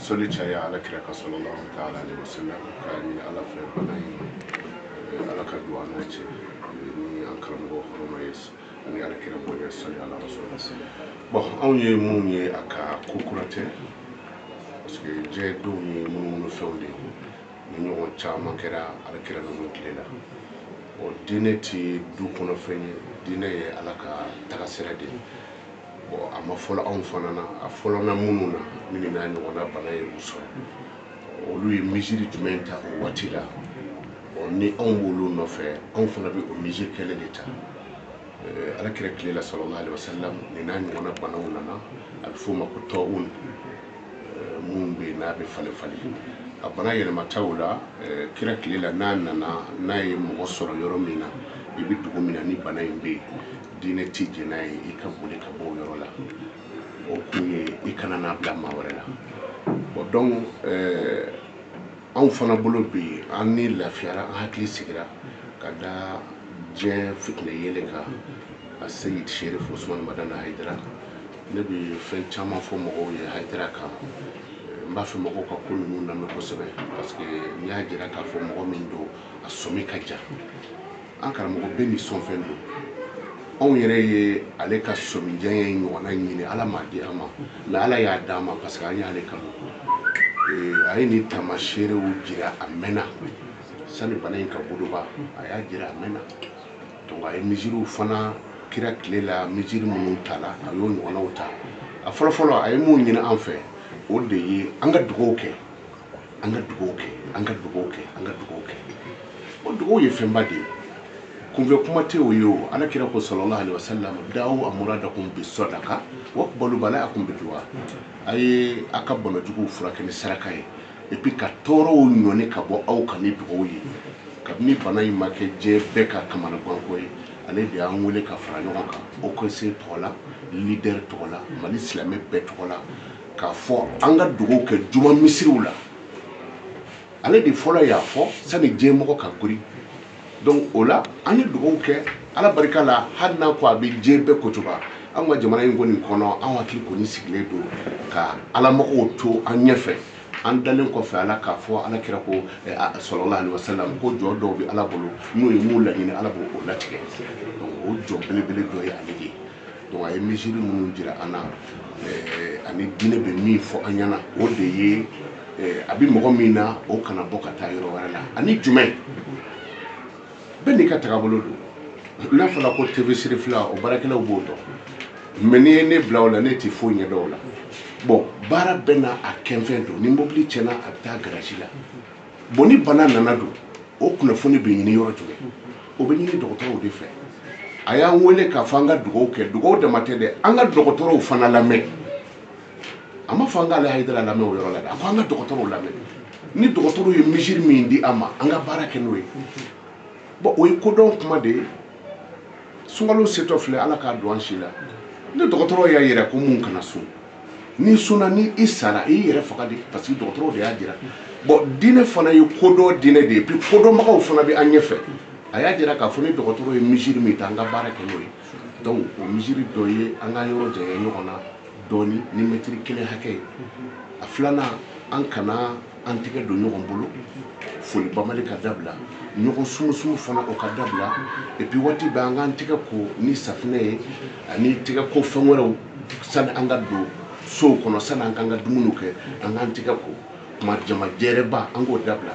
soli caya ala kira kan sallallahu ta'ala alaihi wasallam k'a ɲini ala fɛ bana in eh, ala ka don an n'o cɛ ni an karamɔgɔ hɔrɔma ye ani ala kira bɔ ye soli ala rasul bon anw ye minnu ye a ka ko kura tɛ parce que diɲɛ denw ye munumunu fɛnw de ye nin ɲɔgɔn caman kɛra ala kira ninnu tile la o diinɛ ti du kɔnɔ fɛn ye diinɛ ye ala ka tagasira de ye a ma fɔlɔ anw fana na a fɔlɔla minnu na minnu n'a ɲɔgɔnna bana ye minnu sɔrɔ olu ye mesure jumɛn ta o waati la ni anw b'olu nɔfɛ anw fana bɛ o mesure kelen de ta ala kira tile la sallallahu alaihi wasallam nin n'a ɲɔgɔnna banaw nana a bɛ f'o ma ko tawun min bɛ yen n'a bɛ falen falen a bana yɛlɛmata o la kira tile la n'a nana n'a ye mɔgɔ sɔrɔ yɔrɔ min na i bɛ dugu min na ni bana in bɛ yen diinɛ tɛ jɛn n'a ye i ka boli ka bɔ o yɔrɔ la o kun ye i kana n'a bila maa wɛrɛ la bon donc euh, anw fana bolo bi an ni lafiyara an hakili sigira ka da diɲɛ fitinɛ yeelen kan a seyid sherif usman madani hayidara ne bɛ fɛn caman fɔ mɔgɔw ye hayidara kan n b'a fɛ mɔgɔw ka ko ninnu lamɛn kosɛbɛ parce que n y'a jira k'a fɔ mɔgɔ min don a sɔmi ka jan an karamɔgɔ bɛɛ n'i sɔnfɛn don anw yɛrɛ ye ale ka sɔmijanya ɲɔgɔnna ɲini ala m'a di an ma mais ala y'a d'a ma parce que an y'a y'ale kan a ye nin taamaseerew jira a mɛnna sani bana in ka boloba a y'a jira a mɛnna donc a ye mesurew fana kira tile la mesure minnu tala a y'o ɲɔgɔnnaw ta a fɔlɔfɔlɔ a ye mun ɲini an fɛ o de ye an ka dugawu kɛ an ka dugawu kɛ an ka dugawu kɛ an ka dugawu kɛ o dugawu ye fɛnba de ye kunfɛ kuma tɛ o ye o ala kira ko sallallahu alaihi wasallam dawu amuradakum bi sadaka wa kabilu bala'akum bi duwa a ye a ka bana jugu furakɛ ni saraka ye et puis ka tɔɔrɔw ɲɔni ka bɔ aw kan ni dugawu ye kabini bana in ma kɛ diɲɛ bɛɛ ka kamanaganko ye ale de y'an wele ka fara ɲɔgɔn kan haut conseil tɔgɔ la leader tɔgɔ la mali silamɛ bɛɛ tɔgɔ la k'a fɔ an ka dugawu kɛ juma misiriw la ale de fɔlɔ y'a fɔ sani diɲɛmɔgɔ ka kori donc o la an ye dugawu kɛ ala barika la hali n'a ko a bɛ diɲɛ bɛɛ kocoba an ka jamana in kɔni kɔnɔ an hakili kɔni sigilen don ka alamɔgɔw to an ɲɛfɛ an dalen kɔfɛ ala k'a fɔ ala kira ko eh, sallallahu alaihi wasallam ko jɔn dɔw bɛ ala bolo n'u ye min laɲini ala b'o latigɛ o jɔn belebele dɔ ye ale de ye donc a ye mesure minnu jira an na eh, ani diinɛ bɛ min fɔ an ɲɛna o de ye eh, a bɛ mɔgɔ min na o kana bɔ ka taa yɔrɔ wɛrɛ la ani jumɛn bɛɛ n'i ka tagabolo don n'a fɔra ko tv cherifla o baarakɛlaw b'o dɔn mais n'i ye ne bila o la ne tɛ foyi ɲɛdɔn o la bon baara bɛɛ n'a kɛnfɛn don ni mobili tiɲɛna a bɛ taa garasi la bon ni bana nana don o kunnafoni bɛ ɲini yɔrɔ jumɛn o bɛ ɲini dɔgɔtɔrɔw de fɛ a y'an wele k'a fɔ an ka dugawu kɛ dugawu dama tɛ dɛ an ka dɔgɔtɔrɔw fana lamɛn a ma fɔ an k'ale hayidara lamɛn o yɔrɔ la dɛ a ko an ka dɔgɔtɔrɔw lamɛn ni dɔgɔtɔrɔw ye mesure min di an ma an ka baara kɛ n'o ye bon o ye kodɔn kuma de ye sunkalo setɔ filɛ ala k'a don an si la ni dɔgɔtɔrɔw y'a yira ko mun kana sun n'i sunna ni i sara i yɛrɛ faga de parce que dɔgɔtɔrɔw de y'a jira bon diinɛ fana ye kodɔn diinɛ de ye puis kodɔnbagaw fana bɛ an ɲɛfɛ a y'a jira k'a fɔ ni dɔgɔtɔrɔ ye mesure min ta an ka baara kɛ n'o ye donc o mesure dɔ ye an ka yɔrɔ janya ɲɔgɔn na dɔɔni ni mɛtiri kelen hakɛ ye a filanan an kana an tɛgɛ don ɲɔgɔn bolo foli bamali ka dabila ɲɔgɔn sumusumu fana o ka dabila et puis waati bɛɛ an k'an tɛgɛ ko ni safinɛ ye ani tɛgɛ ko fɛn wɛrɛw sani an ka don sow kɔnɔ sani an k'an ka dumuniw kɛ an k'an tɛgɛ ko kuma jama jɛrɛba an k'o dabila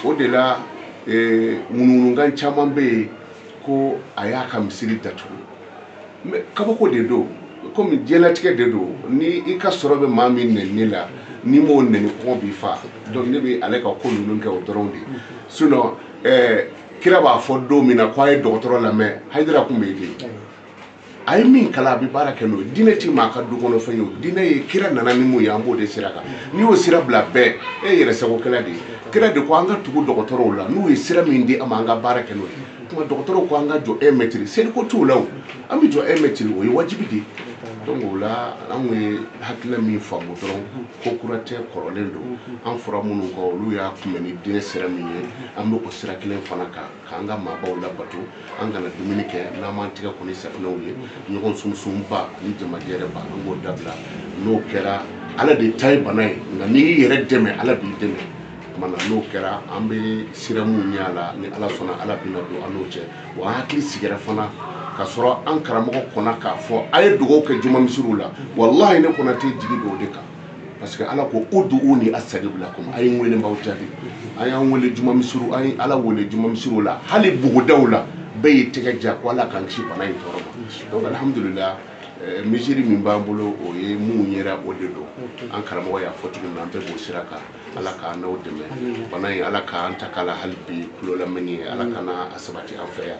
o de la eh, ŋunuŋunukan caman bɛ yen ko a y'a ka misiri datugu mais kabako de don komi diɲɛlatigɛ de don ni i ka sɔrɔ bɛ maa min nɛni la n'i m'o nɛni kɔngɔ b'i fa donc ne bɛ ale ka ko ninnu kɛ o dɔrɔn de sinon eh, kira b'a fɔ don min na ko a ye dɔgɔtɔrɔ lamɛn hayidara tun bɛ yen de a ye min kalan a bɛ baara kɛ n'o ye diinɛ ti maa ka du kɔnɔ fɛn ye o diinɛ ye kira nana ni mun ye an b'o de sira kan n'i y'o sira bila bɛɛ e yɛrɛ sagokɛla de ye kira de ko an ka tugu dɔgɔtɔrɔw la n'u ye sira min di an ma an ka baara kɛ n'o ye tuma dɔgɔtɔrɔw ko an ka jɔ un mètre seli ko t'o la o an bɛ jɔ un mètre o ye wajibi de ye donc o la an kun ye hakilina min faamu dɔrɔn ko kura tɛ kɔrɔlen don an fɔra minnu kɔ olu y'a kunbɛn ni diinɛ sira min ye an bɛ o sira kelen fana kan k'an ka maabaw labato an kana dumuni kɛ n'an m'an tɛgɛ ko ni safinɛw ye ɲɔgɔn sunsunba ani jamajɛrɛba an b'o dabila n'o kɛra ala de ta ye bana ye nka n'i y'i yɛrɛ dɛmɛ ala b'i dɛmɛ tuma na n'o kɛra an bɛ siran minnu ɲɛ a la ni ala sɔnna ala bɛna don an n'o cɛ wa an hakili sigira fana ka sɔrɔ an karamɔgɔ kɔnna k'a fɔ a ye dugawu kɛ jumamisiri la walahi ne kɔnɔ tɛ jigi don o de kan parce que ala ko ud'uni astajib lakum a ye n wele n b'aw jaabi an y'a wele jumamisiri an ye ala wele jumamisiri la hali bugudaw la bɛɛ y'i tɛgɛ ja ko ala k'an kisi bana in tɔɔrɔ ma donc alhamdulillah eh, mesure min b'an bolo u ye minnu yira o de don an karamɔgɔ y'a fɔ cogo min na an bɛɛ b'o sira kan ala k'an n'aw dɛmɛ bana in ala k'an tanga a la hali bi kulolamɛni ye ala kana a sabati an fɛ yan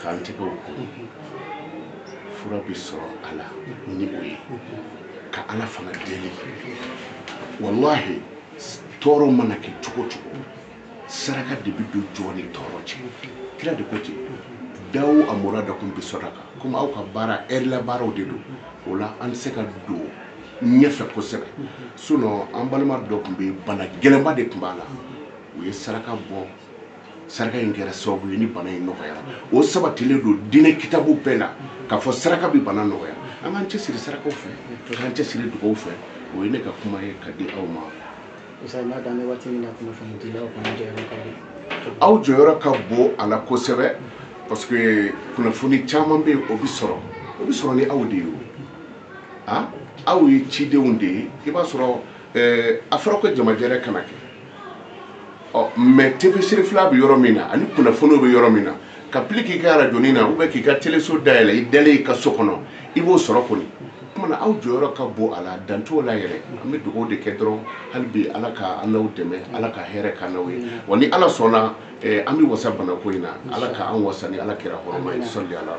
k'an tɛgɛw ko fura bɛ sɔrɔ a la ni o ye ka ala fana deli walahi tɔɔrɔ mana kɛ cogo cogo saraka de bɛ don jɔn ni tɔɔrɔ cɛ kira de ko ten dawu amradakum bi sadaka komi aw ka baara ɛri la baaraw de don o la an tɛ se ka don ɲɛfɛ kosɛbɛ sinɔn an balima dɔ tun bɛ bana gɛlɛnba de tun b'a la u ye saraka bɔ saraka in kɛra sababu ye ni bana in nɔgɔyara o sabatilen don diinɛ kitabu bɛɛ la k'a fɔ saraka bɛ bana nɔgɔya an k'an cɛsiri sarakaw fɛ an k'an cɛsiri dugaw fɛ o ye ne ka kuma ye ka di aw ma aw jɔyɔrɔ ka bon a la kosɛbɛ parce que kunnafoni caman bɛ yen o bɛ sɔrɔ o bɛ sɔrɔ ni aw de ye o ah, aw ye cidenw de ye i b'a sɔrɔ eh, a fɔra ko jamajɛrɛ kana kɛ ɔ mɛ tafsiri fila bɛ yɔrɔ min na ani kunnafoniw bɛ yɔrɔ min na ka pili k'i ka arajɔni na ou bien k'i ka teleso dayɛlɛ i dalen i ka so kɔnɔ i b'o sɔrɔ kɔni kuma na aw jɔyɔrɔ ka bon a la dan t'o la yɛrɛ an bɛ dugawu de kɛ dɔrɔn hali bi ala ka an n'aw dɛmɛ ala ka hɛrɛ k'an n'aw ye wa ni ala sɔnna Eh, an bɛ wasa banako in na ala ka an wasa ni ala kira hɔrɔma ye salli ala